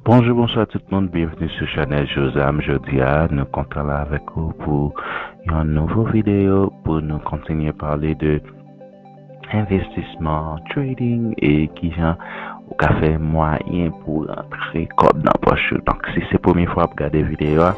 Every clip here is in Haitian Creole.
Bonjou bonswa tout moun byenvni sou chanèl Jozam jodi a nou kontan la avèk ou pou yon nouvo videyo pou nou kontinye pale de Envestisman, trading, e kijan ou ka fè mwayen pou rantre kòb nan pòch ou. Donk si se premye fwa wap gade videyo a,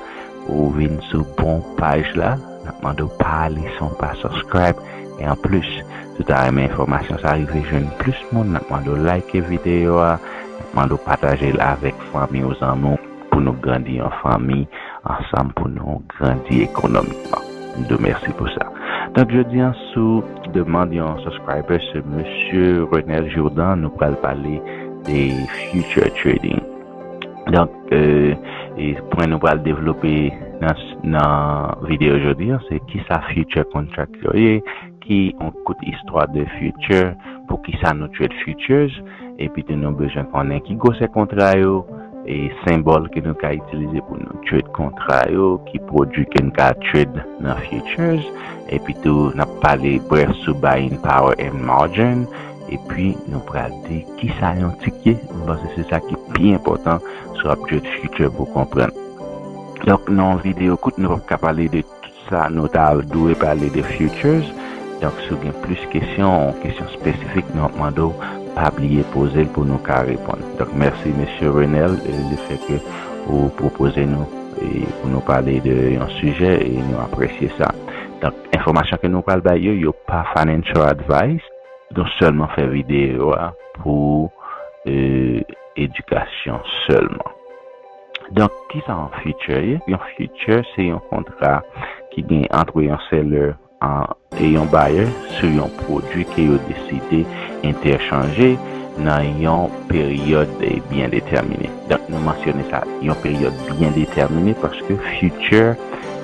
ou vin sou bon paj la, nap mande w pa ale san w pa subscribe, e an plis si w ta renmen enfòmasyon sa rive jwenn plis moun, nap mande w like videyo a, nap mande w pataje l avèk fanmi w zanmi w. pou nou grandi an fanmi ansanm pou nou grandi ekonomikman m di w mèsi pou sa donk jodi an sou demand yon subscriber se mesye Renel Jourdan nou pral pale de future trading donk e pwen nou pral devlope nan videyo jodi an se kisa future contract yo ye Ki on kout istwa de future poukisa nou trade futures epi tou nou bezwen konnen ki gwosè kontra yo e senbòl ke nou ka itilize pou nou trade kontra yo ki pwodwi ke n ka trade nan futures epi tou nap pale brèf sou buying power and margin epi nou pral di kisa yon tik ye m panse se sa ki pi enpòtan si wap trade future pou konprann donk nan yon video kout nou pap ka pale de Tout sa nou ta dwe pale de Futures, donk si w gen plis kesyon, kesyon spesifik nou ap mande w, pa bliye poze l pou nou ka reponn. Donk mèsi Mesye Renel le fè ke ou pwopoze nou pou nou pale de yon sijè e nou apresye sa. Donk enfòmasyon ke nou pral bay yo, yo pa financial advice. Nou sèlman fè videyo a pou edikasyon sèlman. Donk kisa yon future ye? Yon future se yon kontra ki gen antre yon seller e yon buyer sou yon pwodwi ke yo deside entèchanje nan yon peryòd byen detèmine. Donk nou mansyone sa yon peryòd byen detèmine paske future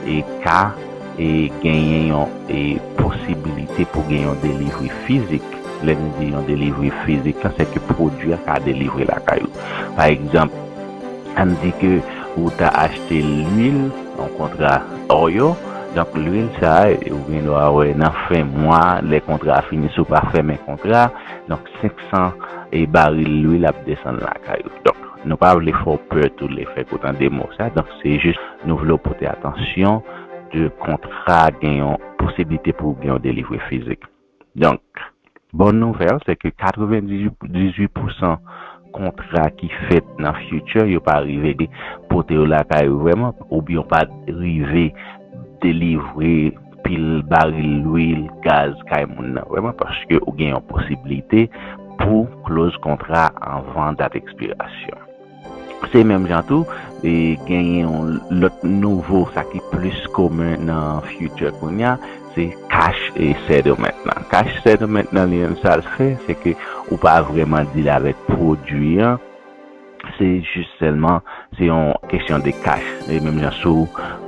e ka e genyen yon e posibilite pou gen yon delivery fizik. Lè nou di yon delivery fizik la se ke pwodwi a ka delivre lakay ou. Pa egzanp. Ann di ke ou ta achte lwil yon kontra or yo, donk lwil sa ou gen dwa wè nan fen mwa lè kontra a fini si w pa fèmen kontra a, donk 500 baril lwil ap desann lakay ou. Donk nou pa vle fè w pè tou lè fèk ou tande mo sa, donk se jis nou vle w pote atansyon de kontra gen yon posiblite pou gen yon delivre fizik. Donk, bòn nouvèl se ke 98 pousan kontra ki fèt nan future yo pa rive pote yo lakay ou vrèman oubyen yo pa rive delivre pil baril lwil, gaz kay moun nan vrèman paske ou gen yon posiblite pou w close kontra anvan dat ekspirasyon. Se menm jan tou, genyen yon lòt nouvo sa ki plis komen nan Future kounye a, se cash settlement lan. Cash settlement lan li menm sa l fè, se ke ou pa vrèman deal avèk pwodui an, se jis sèlman se yon kesyon de cash. Se menm jan si w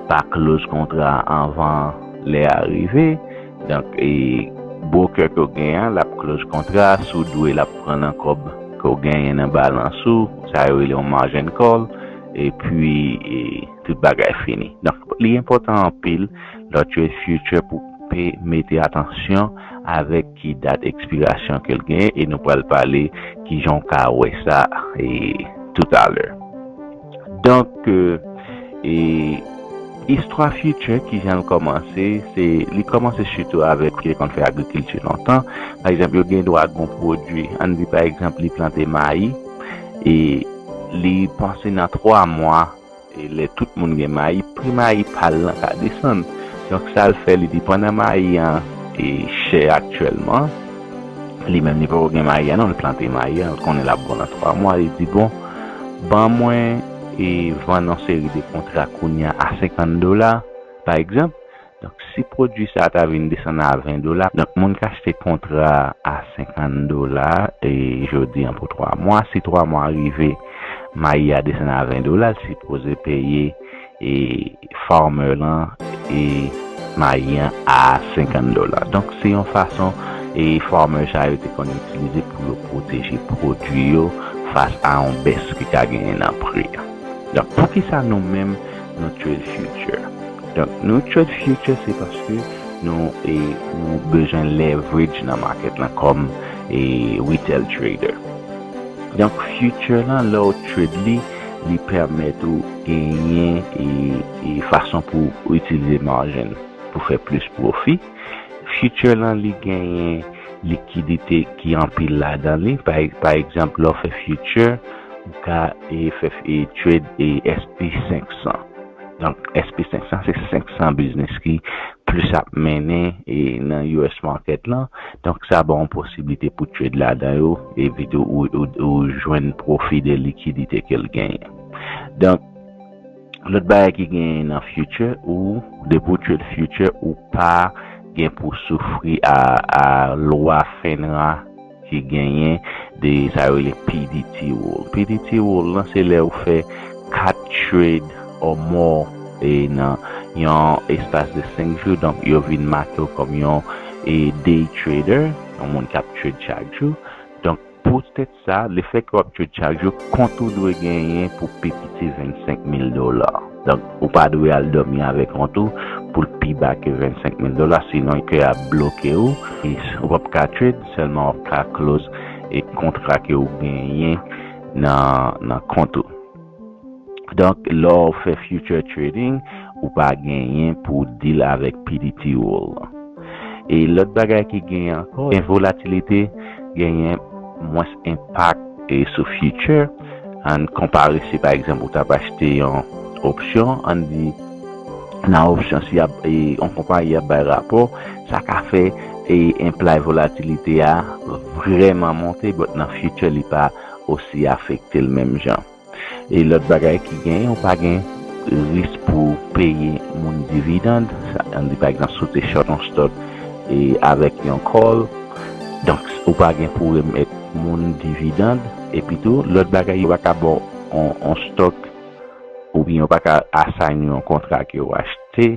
pa close kontra anvan lè a rive, Donk e broker ke w gen an lap close kontra a, si w dwe lap pran nan kòb ke w genyen nan balans ou, sa yo rele yon margin call, epi e tout bagay fini. Donk li enpòtan anpil lè w trade future pou pe mete atansyon avèk ki dat ekspirasyon ke l genyen e nou pral pale kijan w ka wè sa e toutalè. Donk e istwa future kijan l kòmanse se li kòmanse sitou avèk yo konn fè agrikilti lontan pa egzanp yo gen dwa gon pwodui ann di pa egzanp li plante mayi e li panse nan 3 mwa e lè tout moun gen mayi pri mayi pa l lan ka desann donk sa l fè li di pandan mayi an e chè aktyèlman. Li menm li poko gen mayi a non li plante mayi a, li konnen lap bon nan 3 mwa, li di bon ban mwen e vann yon seri de kontra kounya a 50 dola pa egzanp, donk si pwodui sa ta vin desann a 20 dola, donk moun k achte kontra a 50 dola e jodi an pou 3 mwa, si 3 mwa rive mayi a desann a 20 dola, li sipoze peye e farmer lan e mayi an a 50 dola donk se yon fason e farmer sa yo te konn itilize pou yo pwoteje pwodwi yo fas a yon bès ki ka genyen nan pri a donk poukisa nou menm nou trade future donk nou trade future se paske nou e nou bezwen leverage nan market lan kòm e retail trader donk future lan lè ou trade li. Li pèmèt ou genyen fason pou w itilize margin pou fè plis pwofi. Future lan li genyen likidite ki anpil ladan li. Pa egzanp lè w fè future ou ka fè trade SP 500. Donk SP 500 se 500 biznis ki plis ap mennen nan US market lan. Donk sa ba w yon posiblite pou trade ladan yo epi tou ou jwenn pwofi de likidite ke l genyen. Donk lòt bagay ki genyen nan future ou depi ou trade future ou pa gen pou soufri a lwa fenra. ki genyen de sa yo rele pdt rule. Pdt rule lan se lè ou fè 4 trade or more nan yon espas de 5 jou donk yo vin make w kòm yon day trader, yon moun k ap trade chak jou. Donk poutèt sa, lefèt ke w ap trade chak jou, kont ou dwe genyen pou pi piti 25 mil dola. Donk, ou pa dwe al dòmi avèk kont ou pou l pi ba ke 25 mil dola, sinon ke yap bloke ou, ou pap ka trade, sèlman wap ka close e kontra ke ou genyen nan kont ou. Donk, lè w fè future trading, ou pa genyen pou w deal avèk PDT rule. E lòt bagay ki genyen ankò, gen volatilite, genyen mwens enpak sou future. Ann konpare si pa egzanp ou t ap achte yon opsyon, ann di nan opsyon si yon konpayi ap bay rapò, sa ka fè enplay volatilite a vrèman monte but nan future li pa osi afekte l menm jan. E lòt bagay ki genyen ou pa gen risk pou w peye moun dividend, ann di pa egzanp si w te short yon stock avèk yon call, donk ou pa gen pou remèt moun dividend. Epi tou, lòt bagay yo pa ka ba w yon stock oubyen yo pa ka assign ou yon kontra ke ou achte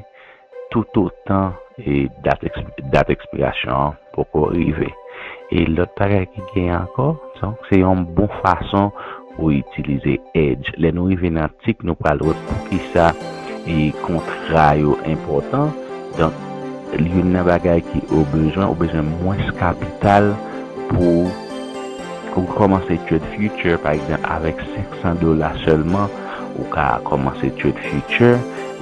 toutotan dat ekspirasyon an poko rive. E lòt bagay ki genyen ankò, donk se yon bon fason pou w itilize Edge. Lè nou rive nan atik, nou pral wè poukisa kontra yo enpòtan. Donk, youn nan bagay ke ou bezwen, ou bezwen mwens kapital pou. Pou w kòmanse trade future pa egzanp avèk 500 dola sèlman ou ka kòmanse trade future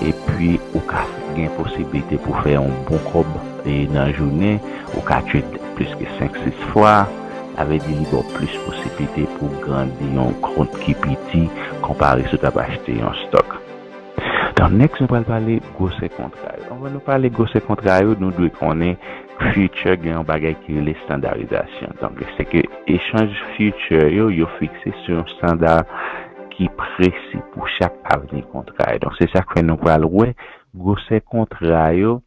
epi ou ka gen posiblite pou fè yon bon kòb nan jounen ou ka trade plis ke 5 6 fwa sa vle di li ba w plis posiblite pou w grandi yon kont ki piti konpare si w tap achte yon stock donk next nou pral pale gwosè kontra yo anvan nou pale gwosè kontra yo nou dwe konnen Future gen yon bagay ki rele standarizasyon. Donk, se ke echanj future yo, yo fikse sou yon standar ki presi pou chak avni kontra yo. Donk, se sa k fè nou pral wè gwosè kontra yo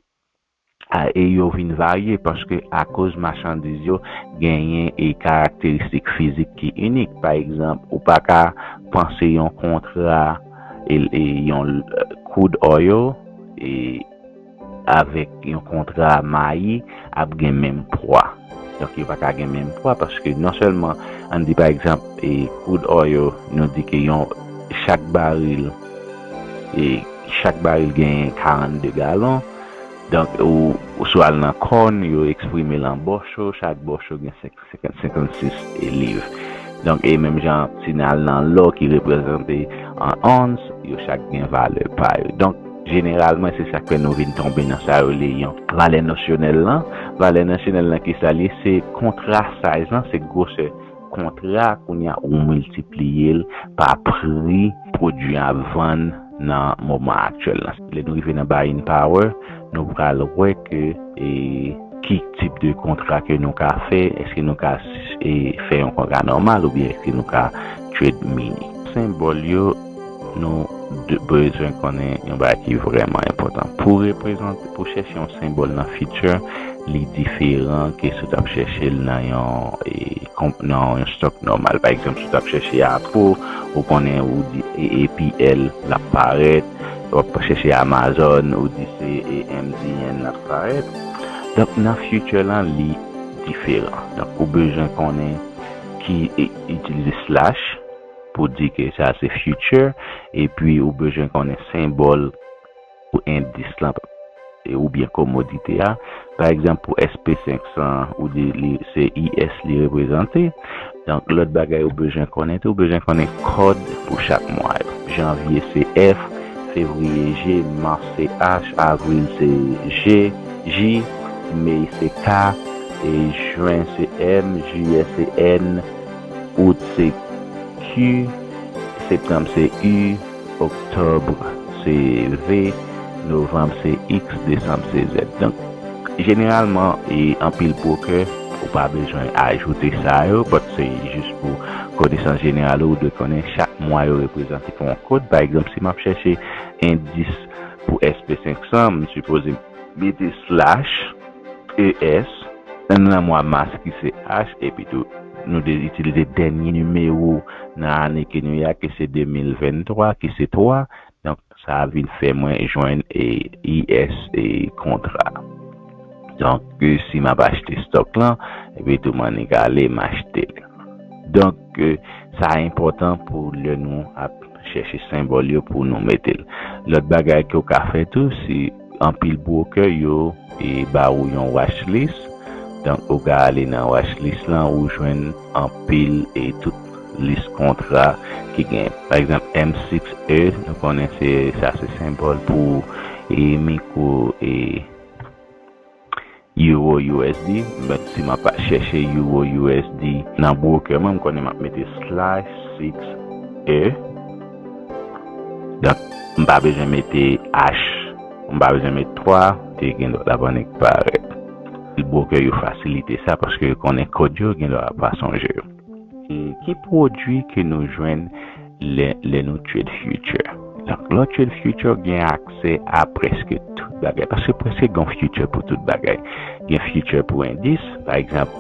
a e yo vin varye paske akoz machandiz yo genyen e karakteristik fizik ki inik. Pa egzanp, ou pa ka panse yon kontra e yon koud oil e. avèk yon kontra mayi ap gen menm pwa. Donk yo pa ka gen menm pwa paske non sèlman ann di pa egzanp crude oil nou di ke yon chak baril chak baril genyen 42 galon donk ou si w al nan corn yo eksprime l an bòcho chak bòcho gen 500. 50, 56 liv. Donk, e menm jan si n al nan lò ki reprezante an ons, yo chak gen valè pa yo. Donk, jeneralman, se sa k fè nou vin tonbe nan sa yo rele yon valè nosyonèl lan. Valè nosyonèl lan ki sa l ye? Se kontra, size lan, se gwosè kontra a. Kounye a, ou miltipliye l pa pri pwodui a vann. nan moman aktyèl la. Lè nou rive nan buying power, nou pral wè ke ki tip de kontra ke nou ka fè, eske nou ka fè yon kontra nòmal oubyen eske nou ka trade mini. Senbòl yo, nou bezwen konnen yon bagay ki vrèman enpòtan. Pou reprezante, pou chèche yon senbòl nan future, li diferan ke si w tap chèche l nan yon. nan yon stock nòmal pa egzanp si w tap chèche Apple ou konnen ou di AAPL lap parèt wap chèche Amazon ou di se AMZN lap parèt donk nan future lan li diferan donk ou bezwen konnen ki itilize slash pou di ke sa se future epi ou bezwen konnen senbòl. pou endis lan oubyen komodite a. Pa egzanp, pou SP 500 an, ou di li se IS li reprezante. Donk, lòt bagay ou bezwen konnen tou, ou bezwen konnen kòd pou chak mwa yo. Janvye se F, fevriye G, mas se H, avril se J, mey se K, jen se M, jiyè se N, out se Q, septanm se U. Octobre se V, Novembre se X, Decembre se Z. Donk, jeneralman, e anpil broker, ou pa bezwen ajoute sa yo, but se jis pou konesans jeneral ou, ou dwe konnen chak mwa yo reprezante pou yon kod. Pa egzanp, si m ap chèche endis pou SP 500, m sipoze mete slash. ES, N lan mwa mas ki se H epi tou nou de itilize dènye nimewo nan ane ke nou ye a ki se 2023 ki se 3 donk sa vin fè mwen jwenn ES e kontra donk si map achte stock lan epi tou m'annik ale m'achte l donk sa enpòtan pou lè nou ap chèche senbòl yo pou nou mete l lòt bagay ke ou ka fè tou si. Anpil broker yo ba ou yon watch list, donk ou ka ale nan watch list la ou jwenn anpil e tout list kontra ki gen. Pa egzanp M6E nou konnen se sa se senbòl pou micro e. Euro usd menm si map chèche euro usd nan broker mwen m konnen map mete slash six e donk m pa bezwen mete ash m pa bezwen mete twa e gen dwa lap annik parèt broker yo fasilite sa paske yo konnen kòd yo gen dwa yo pa sonje yo. E ki pwodwi ke nou jwenn lè nou trade future? Donk, lè w trade future w gen aksè a prèske tout bagay, paske prèske gen yon future pou tout bagay. Gen future pou endis, pa egzanp,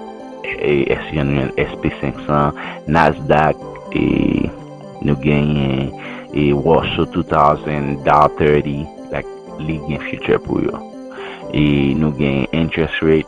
SP500, Nasdaq, nou genyen Russell 2000, Dow 30, like, li gen future pou yo. E nou gen interest rate.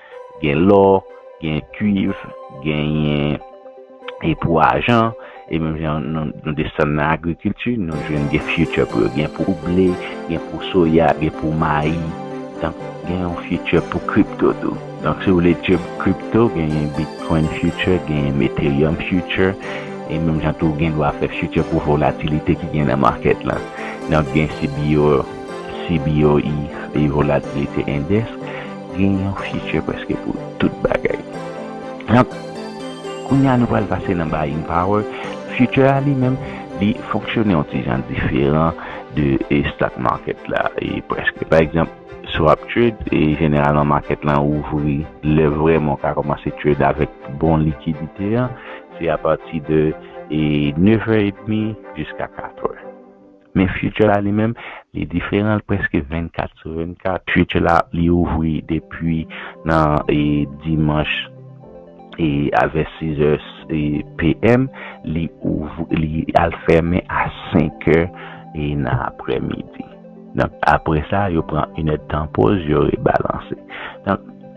Gen lò, gen kuiv, genyen pou ajan, e menm jan nou desann nan agrikilti, nou jwenn gen future pou yo. Gen pou ble, gen pou soya, gen pou mayi. Donk, gen yon future pou crypto tou. Donk, si ou vle etye crypto, genyen Bitcoin future, genyen Ethereum future, e menm jan tou gen dwa fè future pou volatilite ki gen nan market la. Donk, gen CBOE, Volatilite Index. Gen yon future preske pou tout bagay. Donk, kounye a nou pral pase nan buying power. Future a li menm, li fonksyone yon ti jan diferan de stock market la preske. Pa egzanp, swap trade, jeneralman market lan ouvri lè vrèman ou ka kòmanse trade avèk bon likidite an, se apati de 9 è edmi jiska 4 è. Men Future la li menm, li diferan, li prèske 24 sou 24. Future la, li ouvri depi nan dimanch a vè 6 è PM, li al fèmen a 5 è nan aprè midi. Donk aprè sa, yo pran 1 èdtan poz, yo rebalanse.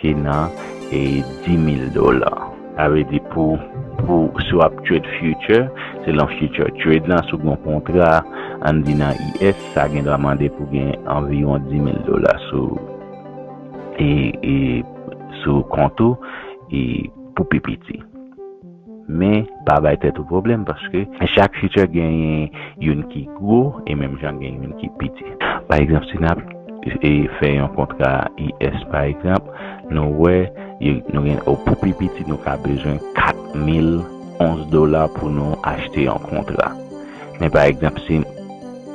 ki nan 10000 dola sa vle di pou pou si wap trade future se lan future trade lan si w gen yon kontra an di nan us sa gen dwa mande pou gen anviwon 10000 dola sou e e sou kont ou e pou pi piti. Men, pa bay tèt ou pwoblèm paske chak feature genyen youn ki gwo e menm jan gen youn ki piti. Pa egzanp si nap fè yon kontra US pa egzanp, nou wè nou gen o pou pi piti nou ka bezwen 4000 ons dola pou nou achte yon kontra. Men pa egzanp si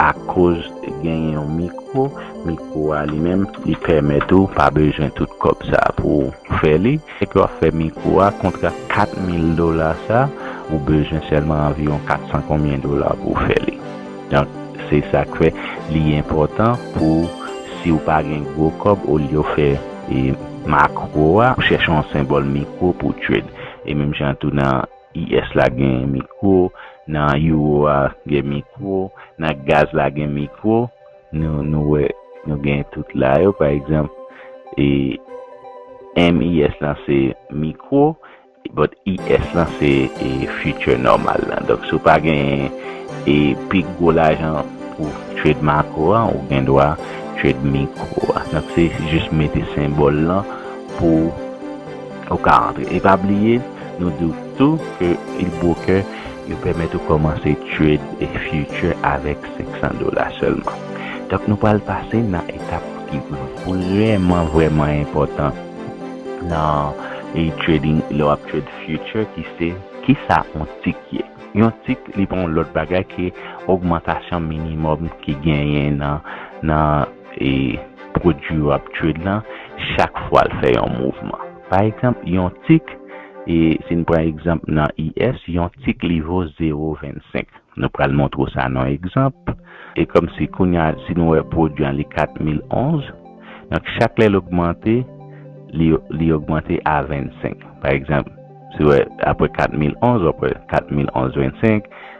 akoz genyen yon mikwo, mikwo a li menm li pèmèt ou pa bezwen tout kòb sa pou fè li. Se ke wap fè mikro a, kontra 4 mil dola sa, ou bezwen sèlman anviwon 400 konbyen dola pou w fè li. Donk, se sak fè li enpòtan pou si w pa gen gwo kòb olye w fè makro a, ou chèche yon senbòl mikro pou w trade. E menm jan an tou nan US la gen mikro, nan Euro a gen mikro, nan gaz la gen mikro. Nou wè nou gen tout la yo. Pa egzanp, MIS lan se mikwo, but IS lan se future nòmal lan. Donk, si w pa genyen pi gwo lajan pou w trade makwo a, ou gen dwa trade mikwo a. Donk, se jis mete senbòl lan pou ou ka antre. E pa bliye, nou di w tou ke Ilbroker. Yo pèmèt ou kòmanse trade future avèk 500 dola sèlman. Donk nou pral pase nan etap ki vrèman vrèman enpòtan nan trading lè wap trade future ki se kisa yon tik ye. Yon tik li pa yon lòt bagay ke ogmantasyon minimòm ki genyen nan nan pwodwi wap trade lan chak fwal fè yon mouvman. Pa egzanp, yon tik, e si n pran egzanp nan IS, yon tik li vo 0,25. Nou pral montre w sa nan yon egzanp. E kòmsi kounye a, si nou wè pwodui an li 4011, donk chak lè l ogmante, li li ogmante a 25. Pa egzanp, si w wè apre 4011, w ap wè 4011 25,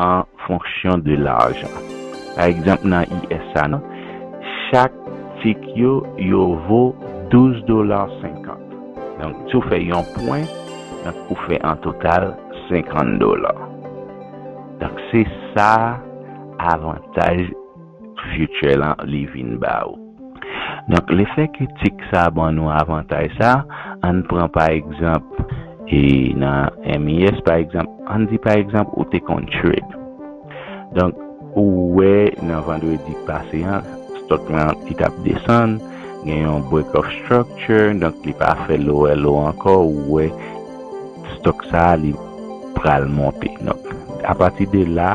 an fonksyon de lajan. Pa egzanp nan IS sa nan, chak tik yo yo vo 12 dola 50. Donk si w fè yon pwen, donk ou fè an total 50 dola. Donk se sa avantaj. future lan li vin ba ou. Donk le fè ke tik sa ban nou avantay sa, ann pran pa egzanp e nan MIS pa egzanp, ann di pa egzanp ou te konn trade. Donk ou wè nan vandredi k pase an stock lan li tap desann, gen yon break of structure, donk li pa fè lower low ankò, ou wè stock sa li pral monte. Donk a pati de la.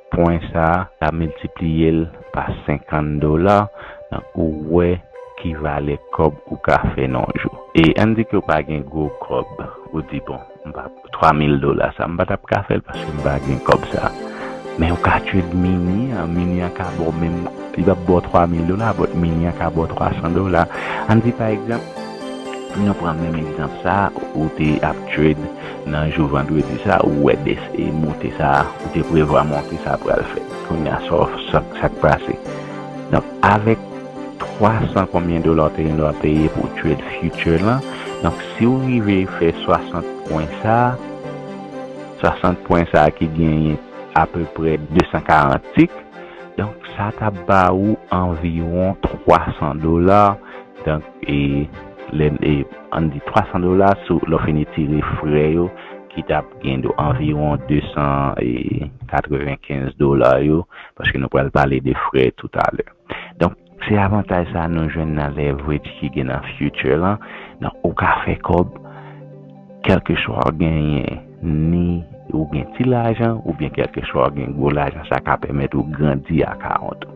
Pwen sa ka miltipliye l pa 50 dola donk ou wè ki valè kòb ou ka fè nan yon jou. E ann di ke ou pa gen gwo kòb, ou di bon m pa 3000 dola sa m pa tap ka fè l paske m pa gen kòb sa. Men ou ka tchwil mini an, mini an ka ba w menm, li pap ba w 3000 dola but mini an ka ba w 300 dola. Ann di pa egzanp, nou pran menm egzanp sa ou te ap tchwil. Nan jou vandredi sa ou wè dese moute sa ou te prevwa monte sa pral fèt kounya sak pase donk avèk 300 konbyen dola ou te gen dwa peye pou trade future lan donk siw rive fè 60 pwen sa 60 pwen sa ki genyen apeprè 240 tik donk sa tap ba ou anviwon 300 dola donk. e lè e ann di 300 dola sou lè w fin etire frè yo ki t ap gen do anviwon 295 dola yo paske nou pral pale de frè toutalè donk se avantaj sa nou jwenn nan leverage ki gen nan future lan donk ou ka fè kòb kèlkeswa w genyen ni ou gen ti lajan oubyen kèlkeswa w gen gwo lajan sa ka pèmèt ou grandi akawont ou.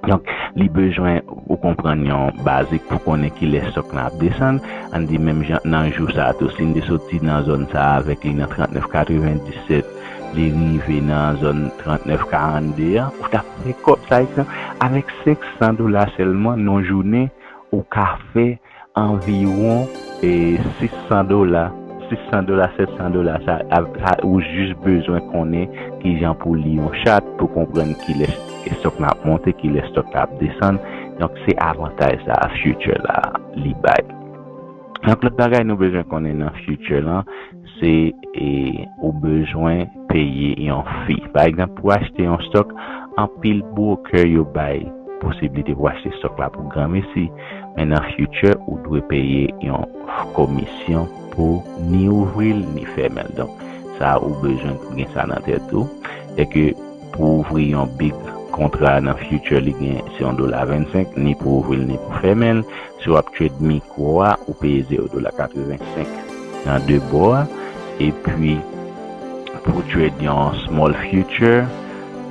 Donk, li bezwen ou konprann yon bazik pou konnen kilè sòk lan ap desann. Ann di menm jan nan jou sa a tou, si n te soti nan zòn sa a avèk li nan 39 97, li rive nan zòn 39 42 an, ou t ap fè kòb. Sa egzanp, avèk 500 dola sèlman nan yon jounen, ou ka fè. anviwon 600 dola, 600 dola, 700 dola sa a, ou jis bezwen konnen ki jan pou li yon chat, pou konprann ki lè stòk la ap monte, ki lè stòk la ap desann, donk se avantaj sa a future la li bay. Yon lòt bagay nou bezwen konnen nan future lan, Se ou bezwen peye yon fi. Pa egzanp, pou achte yon stòk, anpil broker yo bay posiblite pou achte stòk la pou granmesi, men nan future ou dwe peye yon komisyon pou ni ouvri l ni fèmen l. Donk, sa ou bezwen pou gen sa nan tèt ou, se ke pou ouvri yon big kontra nan future li gen se yon dola 25, ni pou ouvri l ni pou fèmen l, Si wap trade micro a ou peye 0 dola 85 nan 2 bò a epi pou trade yon small future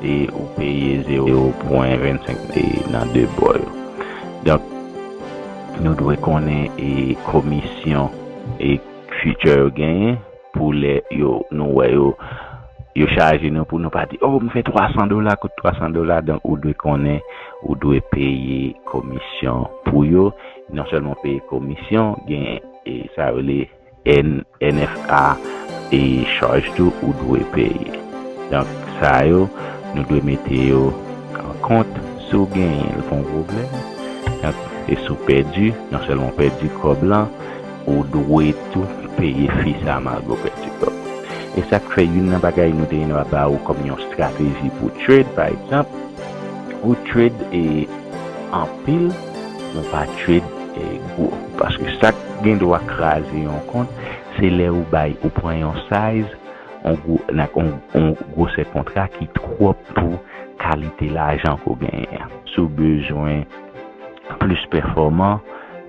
e ou peye 0 pwen 25 e nan 2 bò yo. Donk nou dwe konnen e komisyon e future yo genyen. Pou lè yo nou wè yo, yo chaje nou pou nou pa di, oh m fè 300 dola kout 300 dola donk ou dwe konnen ou dwe peye komisyon pou yo, non sèlman w peye komisyon gen sa yo rele NFA e chaj tou ou dwe peye. Donk sa yo nou dwe mete yo an kont si w genyen l pa yon pwoblèm donk e si w pèdi non sèlman w pèdi kòb lan, Ou dwe tou peye fi sa Margo fè tiktok. Esak fè youn nan bagay nou te gentan ba ou kòm yon strateji pou trade pa egzanp ou trade anpil ou pa trade gwo paske sak gendwa kraze yon kont se lè ou bay ou pran yon size yon gwosè kontra ki twòp pou kalite lajan ke w genyen an. Si w bezwen plis pèfòman,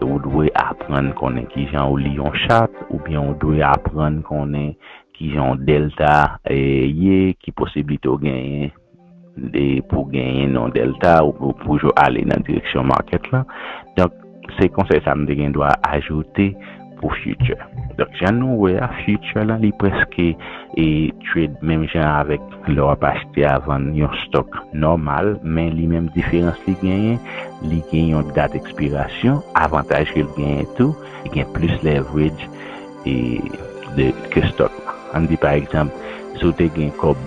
ou dwe aprann konnen kijan ou li yon chat oubyen ou dwe aprann konnen kijan yon dèlta ye, ki posiblite ou genyen pou w genyen yon dèlta ou toujou ale nan direksyon market lan. Donk, se konsèy sa m te gen dwa ajoute. pou future donk jan nou wè a future lan li preske e trade menm jan avèk lè wap achte a vann yon stock nòmal men li menm diferans li genyen li gen yon dat ekspirasyon avantaj ke l genyen tou li gen plis leverage e de ke stock lan ann di pa egzanp si w te gen kòb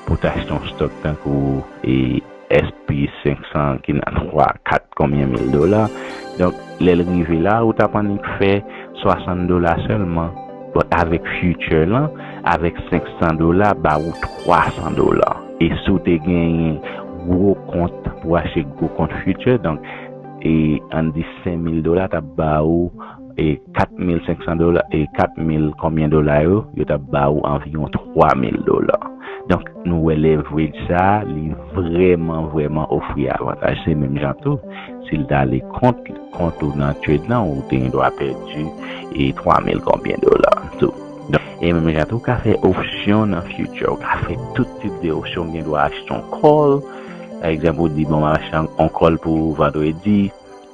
pou w t achte yon stock tankou e. SP 500 ki nan 3, 4 konbyen mil dola. Donk lè l rive la ou t ap annik fè 60 dola sèlman. But avèk future lan, avèk 500 dola ba ou 300 dola. E si w te genyen gwo kont pou w achte gwo kont future donk e ann di 5000 dola t ap ba ou. e 4500 dola e 4000 konbyen dola yo yo tap ba ou anviwon 3000 dola donk nou wè leverage sa li vrèman vrèman ofri avantaj se menm jan tou si l ta ale kont kont ou nan trade lan ou te gen dwa pèdi e 3000 konbyen dola tou donk e menm jan tou ou ka fè opsyon nan future ou ka fè tout tip de opsyon ou gen dwa achte yon call pa egzanp ou di bon map achte yon call pou vandredi.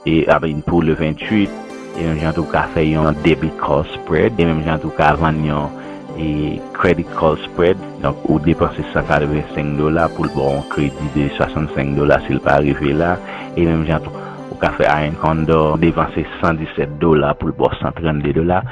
E ap in pou le 28. E menm jan tou ou ka fè yon debit call spread. E menm jan tou ou ka vann yon e credit call spread. Donk ou depanse 185 dola poul baw yon kredi de 65 dola sil pa rive la. E menm jan tou ou ka fè Iron Condor depanse 117 dola poul baw 132 dola.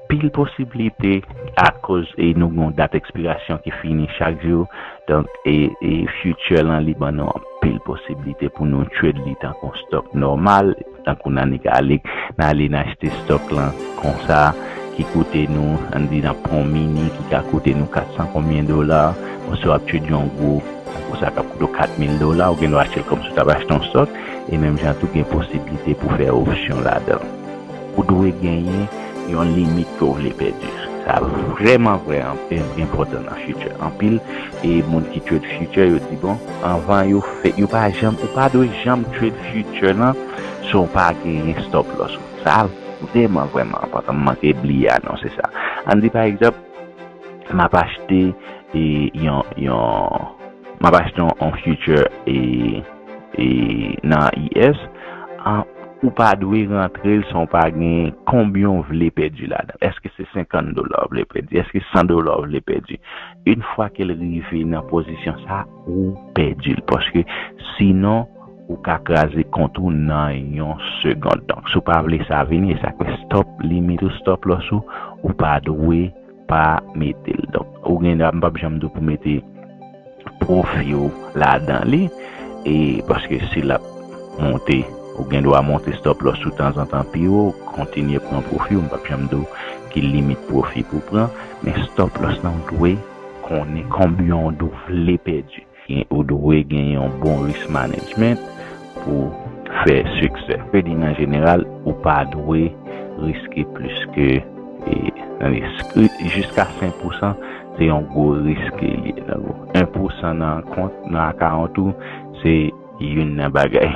Pil posiblite akoz e nou gen yon dat ekspirasyon ki fini chak jou donk e e future lan li ban nou anpil posiblite pou nou trade li tankou yon stock nòmal tankou nan nik ale nan ale nan achte stock lan konsa ki koute nou ann di nan pran yon mini ki ka koute nou 400 konbyen dola bon si wap trade yon gwo tankou sa kap koute w 4000 dola ou gen dwa achte l kòmsi w tap achte yon stock e menm jan tou gen posiblite pou fè option ladan. Ou dwe genyen yon limit ke w vle pèdi. Sa vrèman vrè enpòtan nan future. Anpil e moun ki trade future yo di bon anvan yo fè yo pa janm ou pa dwe janm trade future lan san w pa genyen stop loss ou. Sa vrèman vrèman enpòtan. M manke bliye anonse sa. Ann di pa egzanp m ap achte yon m ap achte yon future e. E nan US an ou pa dwe rantrel san ou pa gen konbyen ou vle pèdi ladanl eske se 50 dola ou vle pèdi eske 100 dola ou vle pèdi yn fwa kel rive nan pozisyon sa ou pèdil paske sinon ou ka kraze kont ou nan yon segond donk si ou pa vle sa vini esak fè stop limit ou stop loss ou ou pa dwe pa metel donk ou gen dwa mpap janm diw pou mete profi ou ladan li e paske si lap monte ou gen dwa monte stop loss ou tanzantan pi wo kontinye pran profiw mpap janm diw ki limit profi pou pran men stop loss lan ou dwe konnen konbyen ou vle pèdi. Ou dwe gen yon bon risk management pou w fè siksè. Trading an jeneral ou pa dwe riske plis ke, tande, jiska 5 pousan se yon gwo risk ke li ye. Tankou 1 pousan nan kont, nan akawont ou, se. Youn nan bagay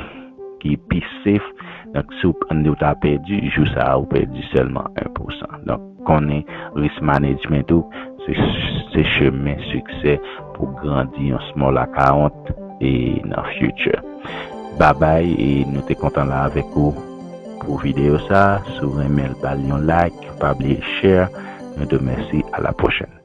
ki pi safe donk si ou ta pèdi jou sa ou pèdi sèlman 1 pousan donk konnen risk management ou se chemen siksè pou grandi yon small account nan future babay e nou te kontan la avèk ou pou video sa si ou renmenl bal yon like pa bliye share nou diw mèsi a la prochèn.